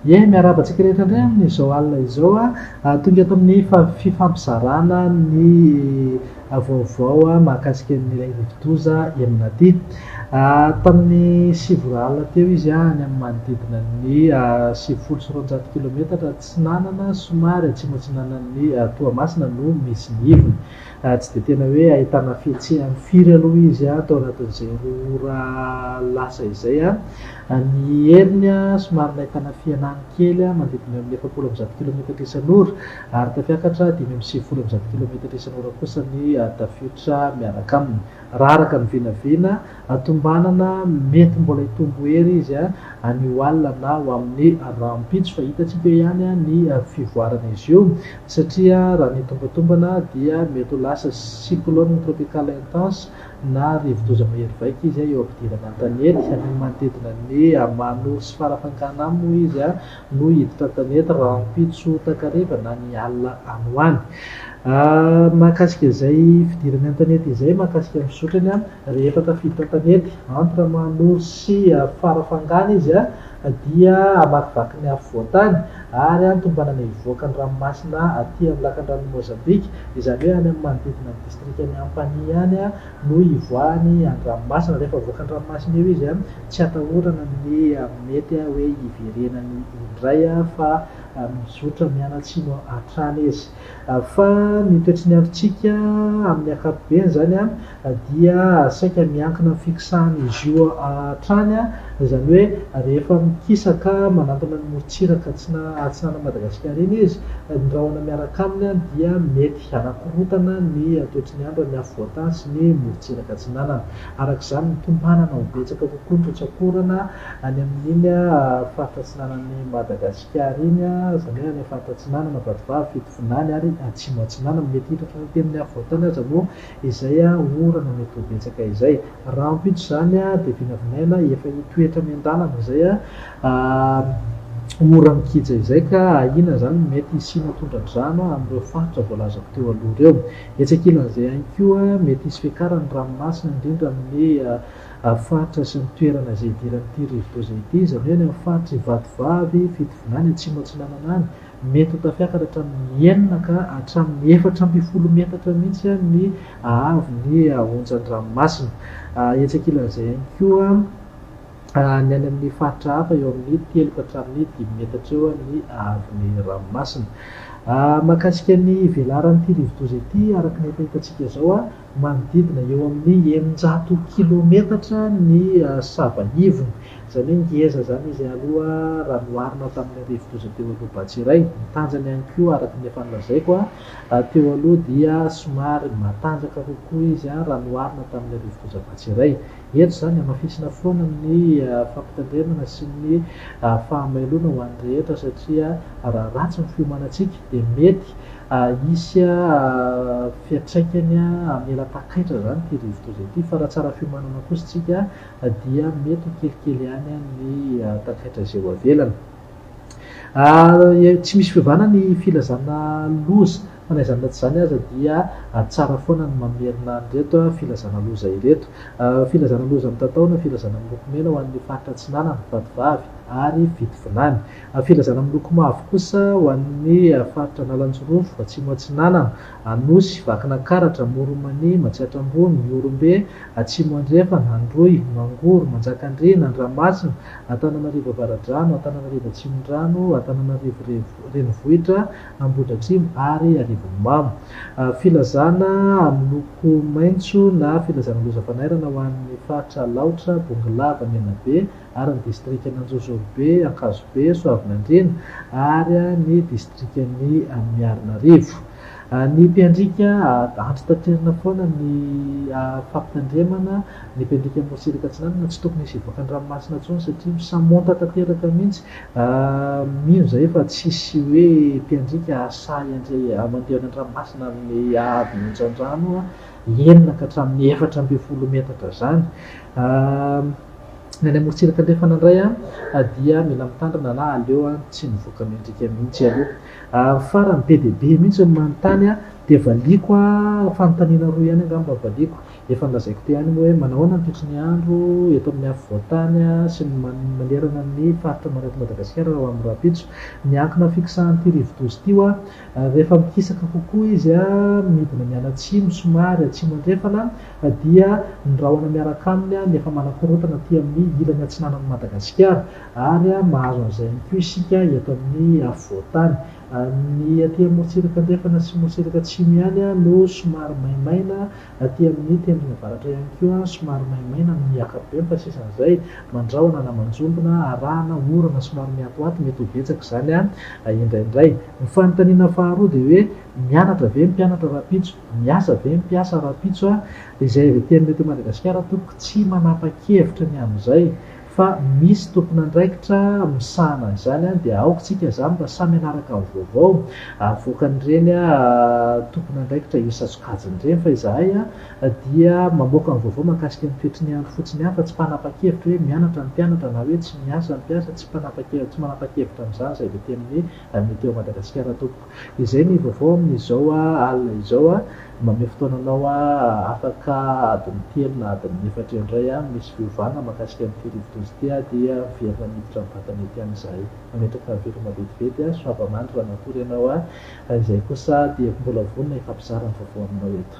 Ie, miarahaba antsika rehetra indray amin' izao alina izao. Tonga eto amin' ny fifampizarana ny vaovao mahakasika an' ilay rivodoza Emnati. Tamin' ny sivy ora alina teo izy any amin' ny manodidina ny sivifolo sy roanjato kilaometatra atsinanana somary atsimoatsinanan' i Toamasina no misy ny ivony. Ary tsy dia tena hoe ahitana fihetsehany firy aloha izy tao anatin'izay roa ora lasa izay. Ny heriny somary nahitana fihenany kely manodidina eo amin'ny efapolo amby zato kilometatra isan'ora, ary tafiakatra dimy amby sivifolo amby zato kilometatra isan'ora kosa ny tafiotra miaraka aminy, raha araka ny vinavina. Tombanana, mety mbola hitombo hery izy any ho alina na ho amin'ny rahampitso fa hitantsika eo ihany ny fivoaran'izy io satria raha ny tombantombana dia mety ho lasa cyclone tropical intense na rivodoza mahery vaika izy eo am-pidirana an-tanety amin'ny manodidina ny Manor sy Farafangana moa izy no hiditra an-tanety rahampitso takariva na ny alina any ho any. Mahakasika izay fidirany an-tanety izay mahakasika ny fizotrany, rehefa tafiditra an-tanety, entre Manoro sy Farafangana izy, dia hamakivaky ny afovoan-tany ary any tombanana hivoaka ny ranomasina aty amin'ny lakandrano Mozambika, izany hoe any amin'ny manodidina ny distrikan'i Ampanihy any, no ivoahany an-dranomasina. Rehefa avoaka an-dranomasina eo izy, tsy atahorana ny mety hoe hiverenany indray fa mizotra mianatsimo hatrany izy. Fa ny toetry ny androntsika amin'ny ankapobeny izany dia saika miankina amin'ny fixan'izy io hatrany, izany hoe rehefa mikisaka manantona ny morontsiraka atsinanan' Madagasikara iny izy, ny rahona miaraka aminy dia mety. Hanakorontana ny toetry ny andro any afovoantany sy ny morontsiraka atsinanana. Araka izany, mitompanana ho betsaka kokoa ny rotsak'orana any amin'iny faritra atsinanan'i Madagasikara iny, izany hoe any amin'ny faritra atsinanana, vadivavy, fitovinany ary atsimo atsinanana. Mety hiitatra hatramin'ny afovoantany aza moa izay orana mety ho betsaka izay. Raha ampitso izany dia vinavinaina efa hitoetra miandalana izay ora mikija izay ka ahiana izany ny mety hisiana tondradrano amin'ireo faritra voalazako teo aloha ireo. Etsy ankilan'izay ihany koa, mety hisy fiakaran'ny ranomasina indrindra amin'ny faritra sy ny toerana izay idiran'ity rivodoza ity, izany hoe any amin'ny faritr'i Vatovavy, Fitovinany, Atsimo Atsinanana any, Mety ho tafiakatra hatramin'ny enina ka hatramin'ny efatra ambin'ny folo metatra mihitsy ny haavon'ny onjan-dranomasina. Etsy ankilan'izay ihany koa, ny any amin'ny faritra hafa, eo amin'ny telo ka hatramin'ny dimy metatra eo ny haavon'ny ranomasina. Mahakasika ny velaran'ity rivodoza ity, araka ny efa hitantsika izao, manodidina eo amin'ny eninjato kilometatra ny sava ivony, izany hoe ngeza izany izy aloha raha noharina tamin'ilay rivodoza teo aloha Batsirai. Ny tanjany ihany koa araka ny efa nolazaiko teo aloha dia somary matanjaka kokoa izy raha noharina tamin'ilay rivodoza Batsirai. Eto izany, hamafisina foana ny fampitandremana sy ny fahamailoana ho an'ny rehetra satria raha ratsy ny fiomanantsika dia mety hisy fiantraikany hamela takaitra izany ity rivodoza ity fa raha tsara fiomanana kosa isika dia mety ho kelikely ihany ny takaitra izay ho avelany. Tsy misy fiovana ny filazana loza Fa na izany na tsy izany aza dia tsara foana ny mamerina an'ireto filazana loza ireto. Filazana loza mitatao na filazana miloko mena ho an'ny faritra Atsinanana, Vatovavy ary Vitovilany. Filazana miloko mavo kosa ho an'ny faritra Analanjirofo, Atsimo Atsinanana, Anosy, Vakinankaratra, Moromania, Matsiatra Ambony, Ihorombe, Atsimo Andrefana, Androy, Mangoro, Manjakandriana, Andramasina, Antananarivo Avaradrano, Antananarivo Atsimondrano, Antananarivo Renivohitra, Ambohidratrimo ary Arivonimamo. Filazana amin'ny loko maitso na filazana lozam-panairana ho an'ny faritra Alaotra, Bongolava, Menabe ary ny distrikan'Anjozorobe, Ankazobe, Soavinandriana ary ny distrikan'i Miarinarivo. Ny mpiandriaka, Andry Taterina foana ny fampitandremana, ny mpiandriaka Mosirika Atsinanana tsy tokony hisy hivoaka an-dranomasina intsony satria misamonta tanteraka mihitsy Mino zahay fa tsisy hoe mpiandriaka asahy handray mandeha any an-dranomasina amin'ny haavon'ny onjan-drano enina ka hatramin'ny efatra ambin'ny folo metatra zany. Ny any amorontsiraka andrefana indray dia mila mitandrina na aleo tsy mivoaka miandriaka mihitsy aloha. Farany be dia be mihitsy no manontany dia valiako fanontaniana roa ihany angamba valiako. Efa nolazaiko teo ihany moa hoe manahoana ny toetrin'ny andro eto amin'ny afovoan-tany sy ny manerana ny faritra maneto an'i Madagasikara raha ho amin'ny rahampitso. Miankina fiksahan'ity rivodoza ity hoa. Rehefa mikisaka kokoa izy midina mianatsimo somary atsimo andrefana dia ny rahona miaraka aminy no efa manakorontana aty amin'ny ilany atsinanan'i Madagasikara ary mahazo an'izay ihany koa isika eto amin'ny afovoan-tany. Ny aty amorontsiraka andrefana sy morontsiraka atsimo ihany no somary maimaina Aty amin'ny tendrony avaratra ihany koa, somary maimaina no mihiaka be, fa sisan'izay, mandrahona na manjombona, arahana, orana somary mihatohato, mety ho betsaka izany indraindray. Ny fanontaniana faharoa dia hoe, mianatra ve ny mpianatra rahampitso? Miasa ve ny mpiasa rahampitso? Dia izay avy aty aminay eto Madagasikara, tompoko, tsy manapa-kevitra ny amin'izay. Fa misy tompon'andraikitra misahana an'izany an, dia aoka tsika zany mba samy hanaraka ny vaovao avoakan'ireny tompon'andraikitra io satsokajiny ireny fa izahay dia mamoaka ny vaovao mahakasika ny toetry ny andro fotsiny ihany fa tsy mpanapa-kevitra hoe mianatra ny mpianatra na hoe tsy miasa ny mpiasa, tsy mpanapa-kevitra, tsy manapa-kevitra an'izany izay dia teny hoe Météo Madagasikara tompoko. Izay ny vaovao amin'izao alina izao a! Mamehy fotoananao aho afaka adiny telo na adiny efatra eo indray a! Misy fiovana mahakasika an'ity rivodoza ity a! Dia miverina miditra amin'ny vatana ety any izahay. Mametraka veloma vetivety a! Soava mandry raha natory ianao a! Raha izay kosa dia mbola vonona hifampizara ny vaovao aminao eto.